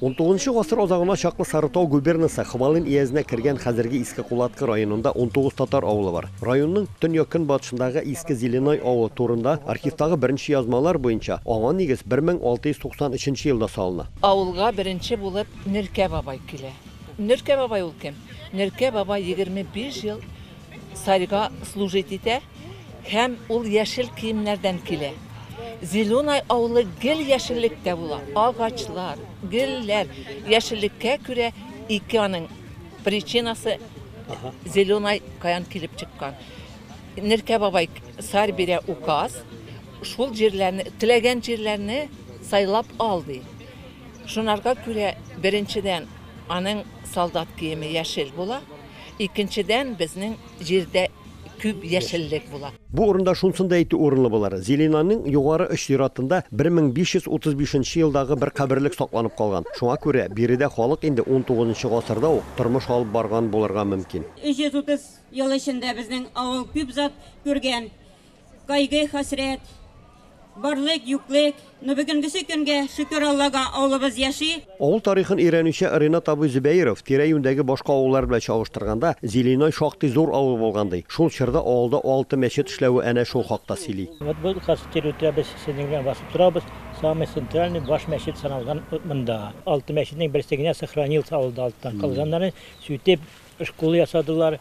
XIX гасыр азагына чаклы Сарытау губернасы Хвалын иязенә кергән хәзерге Иске Кулаткы районында 19 татар авылы бар. Районның төньяк-көнбатышындагы Иске Зеленой авылы турында архивтагы беренче язмалар буенча аңа нигез 1693 елда салына. Авылга беренче булып Нөркә бабай килә. Нөркә бабай ул кем? Нөркә бабай 25 ел царьга служить итә. Һәм ул яшел киемнәрдән килә. Зеленай авылы гел яшеллектә була. Агачлар, гөлләр, яшеллеккә күрә ике аның причинасы Зеленай каян килеп чыккан. Неркә бабай сар бирә указ, шул җирләрне, теләгән җирләрне сайлап ал ди. Шунарга күрә беренчедән аның солдат киеме яшел була, икенчедән безнең җирдә күп яшеллек була. Бу урында шунысын да әйтү урынлы булыр, Зилинаның югары оч зиратында 1535 нче елдагы бер каберлек сакланып калган. Шуңа күрә биредә халык инде XIX нчы гасырда ук тормыш алып барган булырга мөмкин. 330 ел эчендә безнең авыл күп зат күргән. Кайгы-хәсрәт, барлык-юклык, но бүгенгесе көнгә, шөкер Аллага, авылыбыз яши. Авыл тарихын өйрәнүче Ринат абый Зөбәеров тирә-юньдәге башка авыллар белән чагыштырганда, Зеленой шактый зур авыл булган ди. Шул чорда авылда алты мәчет эшләве әнә шул хакта сөйли. Вот бу хәзер территория без сезнең белән басып торабыз, самый центральный баш мәчет саналган вот монда. Алты мәчетнең берсе генә сохранился авылда алттан калганнары, сүтеп, школа ясадылар,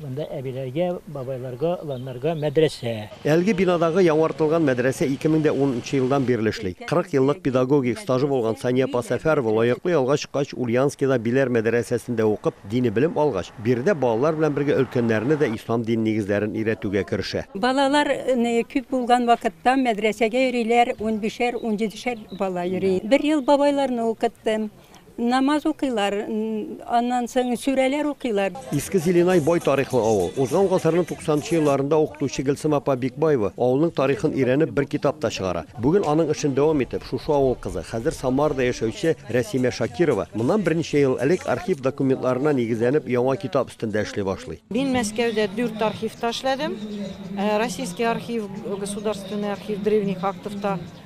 Монда әбиләргә, бабайларга, оланнарга мәдрәсә. Әлеге бинадагы яңартылган мәдрәсә ике мең дә ун нчы елдан бирле эшли. Кырык еллык педагогик стажы булган Сания апа Сәфәрова лаеклы ялга чыккач, Ульянскида Биләр мәдрәсәсендә укып, дини белем алгач, биредә балалар белән бергә өлкәннәрне дә ислам дин нигезләрен өйрәтүгә керешә. Балалар күп булган вакытта мәдрәсәгә йөриләр, унбишәр-унҗидешәр бала йөри. Бер ел бабайларны укыттым. Намаз укыйлар, аннан соң сүрәләр укыйлар. Иске Зеленай бай тарихлы авыл. Узган гасырның 90 нчы елларында укытучы Гөлсем апа Бикбаева авылның тарихын өйрәнеп бер китап та чыгара. Бүген аның эшен дәвам итеп, шушы авыл кызы, хәзер Самарада яшәүче Рәсимә Шакирова моннан берничә ел элек архив документларына нигезләнеп яңа китап өстендә эшли башлый. Мин Мәскәүдә дүрт архивта эшләдем. Российский архив, Государственный архив древних актов та.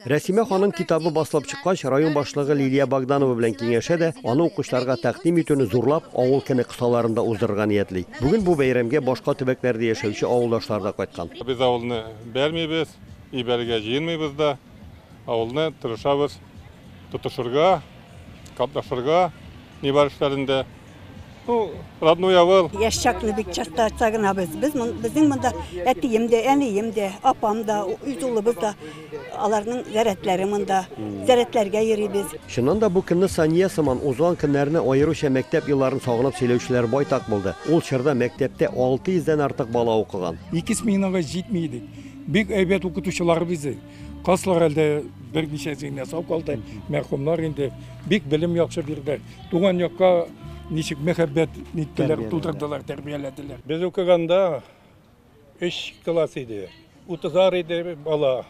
Рәсимә ханым китабы басылып чыккач, район башлыгы Лилия Богданова белән киңәшә дә, аны укучыларга тәкъдим итүне зурлап, авыл көне кысаларында уздырырга ниятли. Бүген бу бәйрәмгә башка төбәкләрдә яшәүче авылдашлар да кайткан. Без авылны бәрмибез, ибәрергә җыенмыйбыз да. Авылны тырышабыз тотышырга, катнашырга нибар эшләрендә. Ну, родной авыл. Яшь чаклы бик чакта айтса гына без, без мон- безнең монда әтием дә, әнием дә, апам да, үз улыбыз да, аларның зәрәтләре монда. Зәрәтләргә йөрибез. Чыннан да бу көнне Сания сыман узган көннәрне аеруча мәктәп елларын сагынып сөйләүчеләр байтак булды. Ул чорда мәктәптә 600 дән артык бала укыган. Ике сменага җитми идек. Бик әйбәт укытучылар безнең. Каслар әлдә берничә генә сау калды. Мәрхүмнәр инде бик белем яхшы бирде. Туган якка ничек мәхәббәт ниттеләр, тудырдылар, тәрбияләделәр. Без укыганда 3 класс иде. Утызар иде бала.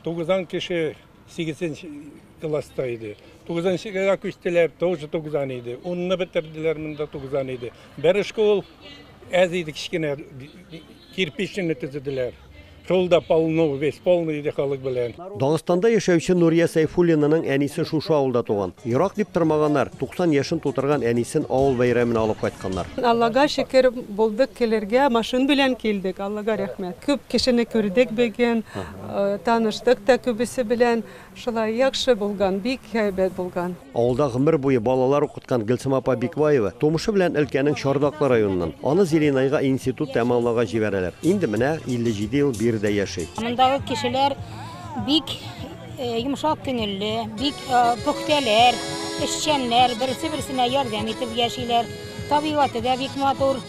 Тугызан кеше 8 класста иде. Тугызынчыга күчтеләр, тоже тугызан иде. Унны бетерделәр, монда тугызан иде. Бер школ әз иде, кечкенә кирпичне төзеделәр. Шул да полно, весь полный иде халык белән. Дагыстанда яшәүче Нурия Сәйфуллинаның әнисе шушы авылда туган. Ерак дип тормаганнар, 90 яшен тутырган әнисен авыл бәйрәменә алып кайтканнар. Аллага шөкер, булдык килергә, машин белән килдек, Аллага рәхмәт. Күп кешене күрдек бүген, таныштык та күбесе белән. Шулай яхшы булган, бик әйбәт булган. Авылда гомер буе балалар укыткан Гөлсем апа Бикбаева тумышы белән өлкәнең Чардаклы районыннан. Аны Зеленайга институт тәмамлауга җибәрәләр. Инде менә 57 ел биредә яши. Мондагы кешеләр бик йомшак күңелле, бик пөхтәләр, эшчәннәр, берсе-берсенә ярдәм итеп яшиләр. Табигате дә бик матур.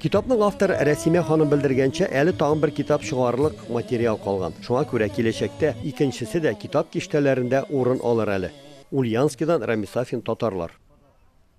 Китапның авторы Рәсимә ханым белдергәнчә, әле тагын бер китап чыгарырлык материал калган. Шуңа күрә киләчәктә икенчесе дә китап киштәләрендә урын алыр әле. Ульяновскидан Рамис Сафин, Татарлар.